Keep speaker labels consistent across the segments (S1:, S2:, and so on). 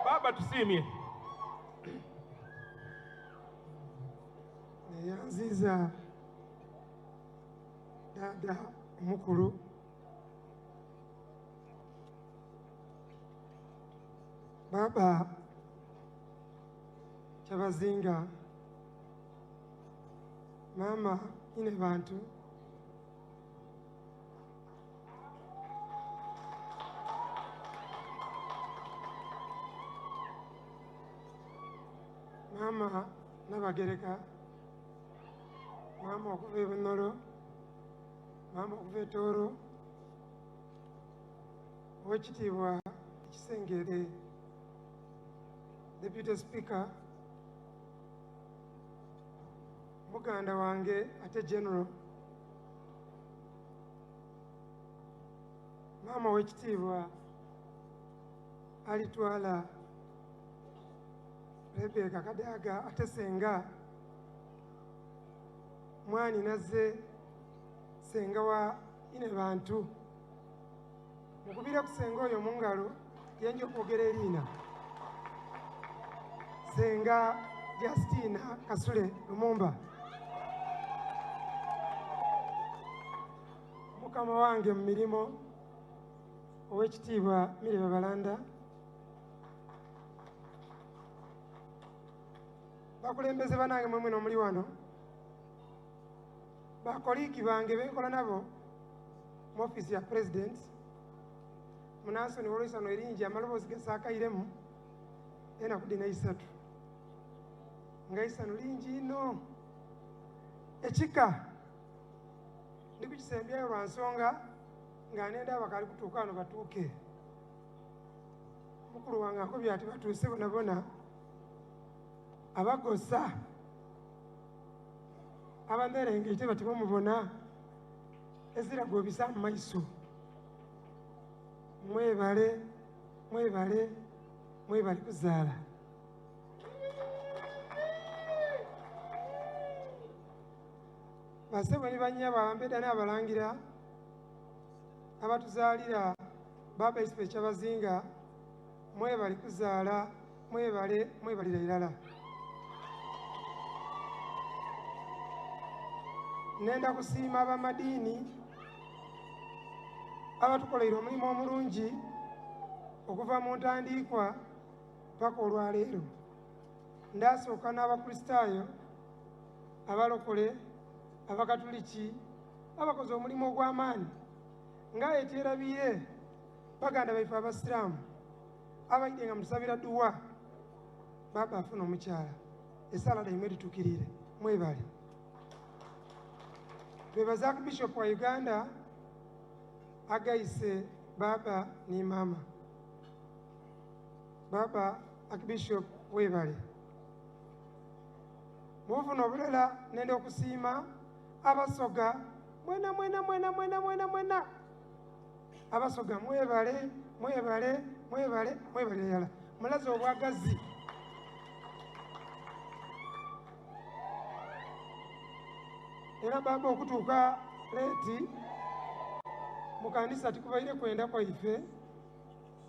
S1: baba tusiimye
S2: neyanziza dada omukulu baba kyabazinga mama ine bantu maama nabagereka maama okuva ebunolo maama okuva etooro owekitiibwa ekisengere deputy speaker muganda wange ate general maama w'ekitiibwa alitwala rebeka kadaaga ate senga mwani nazze senga wa ine bantu mukubire ku senga oyo mu ngalo genja okwogera eriina senga justina kasule lumumba mukama wange mu mirimu owekitiibwa mireba balanda bakulembeze banange mwemwena omuli wano bakoliigi bange benkola nabo mu ofiisi ya president munansoni wolwisano eringi amaloboozi gesaakairemu enaku dina isatu nga isano lingi ino ekika ndi kukisembyayo lwa nsonga nga nenda abakali kutuuka ano batuuke mukulu wange akobya ati batuuse bonabona abagosa abamerengete bati bamubona ezira gwobisa mu maiso mwebale mwebale mwebale kuzaala basebo ni banya bambeda n'abalangira abatuzaalira baba isipe kyabazinga mwebale kuzaala mwebale mwebalira irala nenda kusiima abamadiini abatukoleire omulimu omulungi okuva mu ntandiikwa paka olwaleero ndasooka n'abakristaayo abalokole abakatuliki abakoze omulimu ogw'amaani nga ekyerabiye baganda baife abasiraamu abayide nga musabira duwa baba afuna omukyala esaala daimwe litukirire mwebale bebazaku bishop wa uganda agayise baba ni mama baba akibishop webale mubufuna obulela nende okusiima abasoga mwena mwena mwena mwena mwena mwena abasoga mwebale mwebale mwebale mwebale yala mulaze obwagazi era baba okutuuka leeti mu kanisa tikubaire kwenda kwaife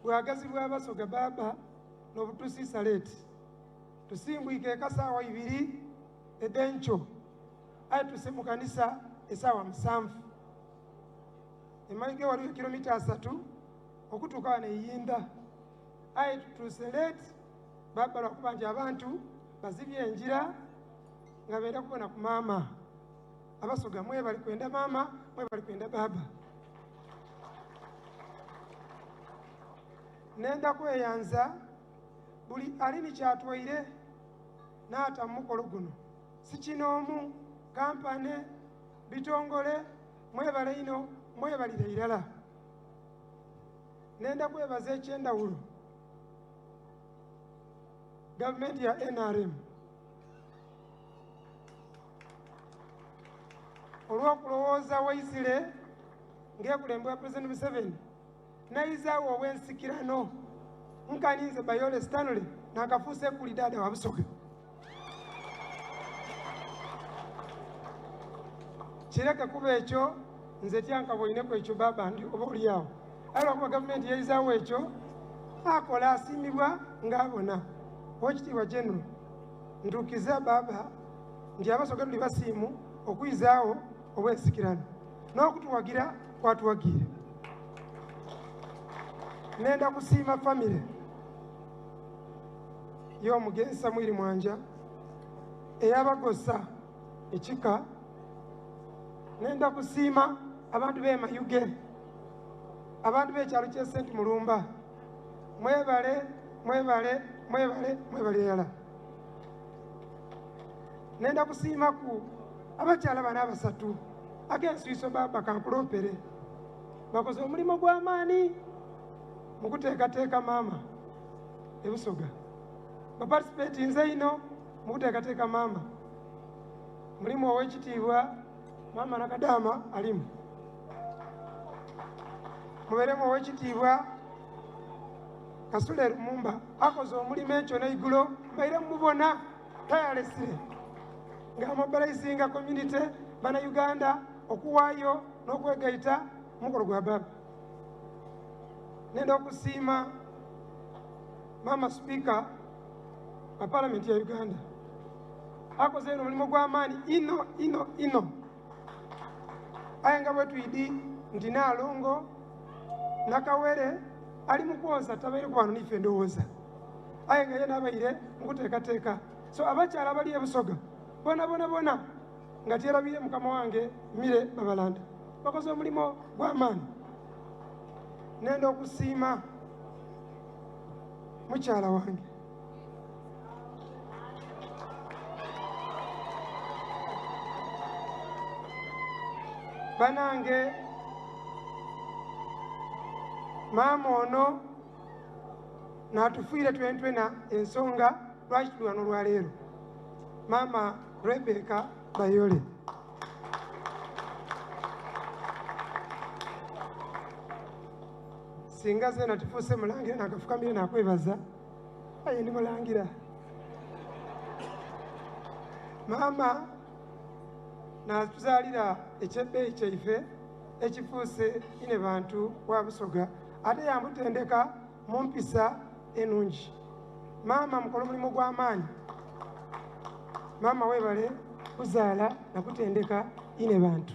S2: bwagazi bwabasoga baba nobutusiisa leeti tusimbwike ekasaawa ibiri edenkyo aye tuse mu kanisa esaawa musanvu emmayiga waliyo kilomita asatu okutuuka wano eyinda aye tutuuse leeti baba lwakuba nti abantu bazibye enjira nga beera kubona ku maama abasoga mwebali kwenda maama mwebali kwenda baaba nenda kweyanza buli ali nikyatwaire naata mumukolo guno sikinoomu kampane bitongole mwebale ino mwebalire irala nenda kwebaza ekyendawulo gavumenti ya nrm olwokulowooza waisire ngekulembwa president museveni nayizaawo ow'ensikirano nkaninze bayole stanley nakafuusa ekuli daada wabusoga kireke kuba ekyo nze tyankaboineku ekyo baba ndi oba oliawo aye lwakuba gavumenti yayizaawo ekyo akola asiimibwa ngaabona owekitiibwa general ntukiza baba nti abasoga tuli basiimu okuyizaawo obwensikirano n'okutuwagira kwatuwagiire nenda kusiima famire y'omugenzi samwiri mwanja eyabagosa ekika nenda kusiima abantu b'emayuge abantu b'ekyalo ky'e senti mulumba mwebale mwebale mwebale mwebale yala ngenda kusiimaku abakyala bana abasatu ag'ensuiso baba kankulopere bakoze omulimu gw'amaani mu kuteekateeka maama ebusoga bapatisipeti nze ino mu kuteekateeka maama mulimu ow'ekitiibwa maama nakadaama alimu mubeeremu ow'ekitiibwa Kasule Lumumba akoze omulimu ekyo neigulo mbaire mubona tayalesire nga mobilizinga community bana Uganda okuwaayo n'okwegaita omukolo gwa baba nenda okusiima maama sipiika wa palamenti ya Uganda akoze eno omulimu gw'amaani ino ino ino aye nga bwetwidi nti nalongo nakawere ali mukwoza tabaire kubano nife ndowooza aye nga ye nabaire mukuteekateeka so abakyala abali ebusoga bona bona bona nga tyerabire mukama wange mire babalanda bakoze omulimu gwamaani nenda okusiima mukyala wange banange maama ono natufiire twentwena ensonga lwaki tuli wano olwaleero maama rebeka bayole singa zena tufuuse mulangira nakafukamire nakwebaza aye ndi mulangira maama natuzaalira ekyebbeeyi kyaife ekifuuse ine bantu wa busoga ate yamutendeka mu mpisa enungi maama mukola omulimu gw'amaanyi maama webale kuzaala nakutendeka ine bantu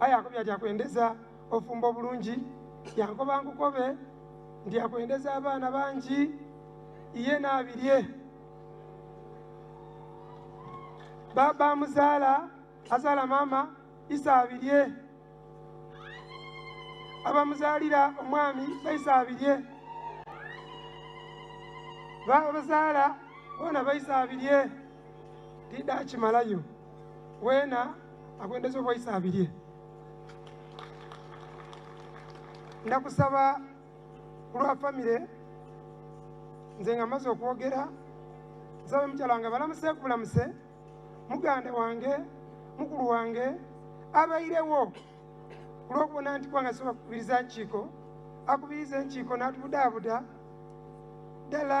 S2: aye akobya ati akwendeza ofumba obulungi yankoba nkukobe nti akwendeza abaana bangi iye naabirye baba muzaala azaala maama isa abirye abamuzaalira omwami baisa abirye babazaala bona baisa abirye didakimalayo wena akwendeza obwaisa abirye nakusaba kulwa famire nze nga maze okwogera nsaba mukyala nga balamuse kubulamuse muganda wange mukulu wange abairewo kulwokubona nti kubanga soba kukubiriza nkiiko akubiriza enkiiko natubudaabuda ddala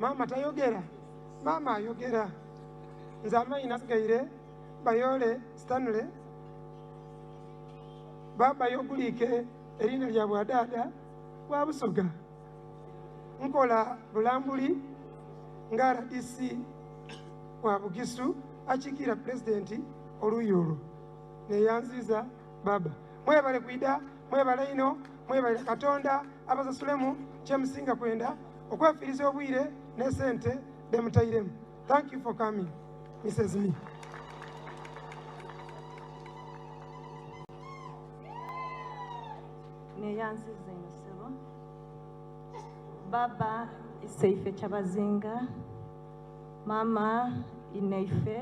S2: maama tayogera maama ayogera nze amaanyi nasigaire bayoole stanley babayo oguliike eriina lya bwadaada bwa busoga nkola bulambuli nga rdc wa bugisu akiikirira pulezidenti oluuyi olwo neyanziiza baba mwebale kwida mwebale ino mwebale katonda abasasulemu kyemusinga kwenda okwefiiriza obwire ne sente bemutairemu thank you for coming mrs me
S1: neyanziza ensebo baba iseife kyabazinga mama ineife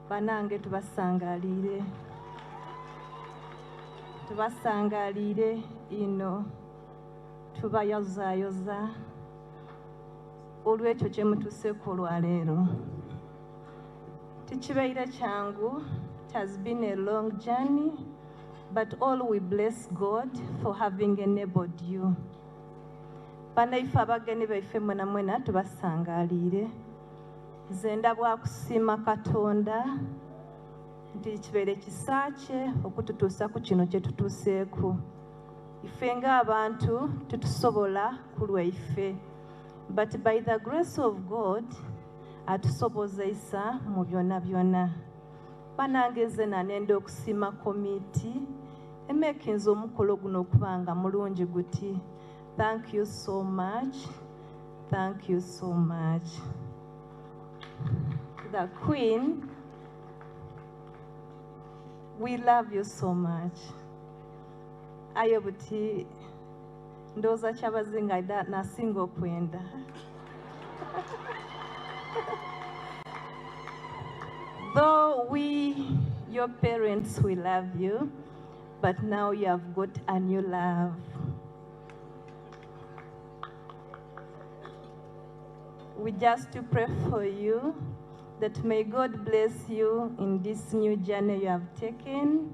S1: banange tubasangaliire tubasangaliire ino tubayozaayoza olw'ekyo kye mutuseeko olwaleero tekibeire kyangu it has been a long journey but all we bless god for having enabled you banaife abagenyi baife mwenamwena tubasangaliire nze ndabwakusiima katonda nti kibeere kisa kye okututuusa ku kino kye tutuuseeku ife nga abantu tetusobola kulwaife but by the grace of god atusobozeisa mu byona byona banange nze nanenda okusima komiti emekinza omukolo guno okuba nga mulungi guti thank you so much thank you so much the queen we love you so much aye buti ndowooza kyabazinga nasinga okwenda though we your parents we love you but now you have got a new love we just to pray for you that may god bless you in this new journey you have taken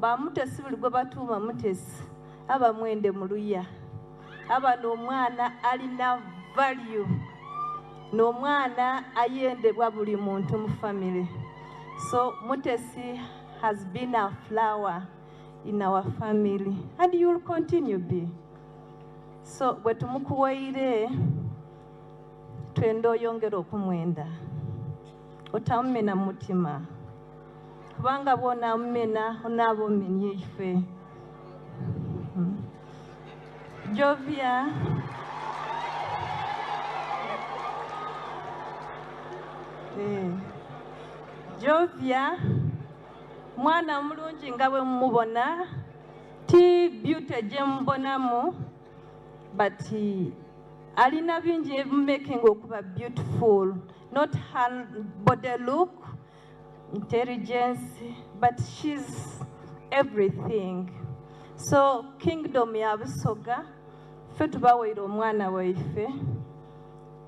S1: Ba Mutesi buli gwe batuuma Mutesi aba mwende mu luya. Aba n'omwana alina value n'omwana ayendebwa buli muntu mu family. So Mutesi has been a flower in our family and you will continue be. So bwe tumukuwoire twende oyongere okumwenda otamumena mutima. kubanga bwona amumena onaaba omenye ife hmm. jovia eh. jovia mwana omulungi nga bwe mumubona ti beauty gye mubonamu but alina bingi ebimaking okuba beautiful not her body look intelligence but she's everything so kingdom ya busoga ffe tubawaire omwana waife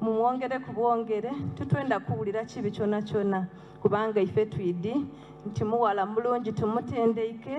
S1: mumwongere ku bwongere tutwenda kuwulira kibi kyona kyona kubanga ife twidi nti muwala mulungi tumutendeike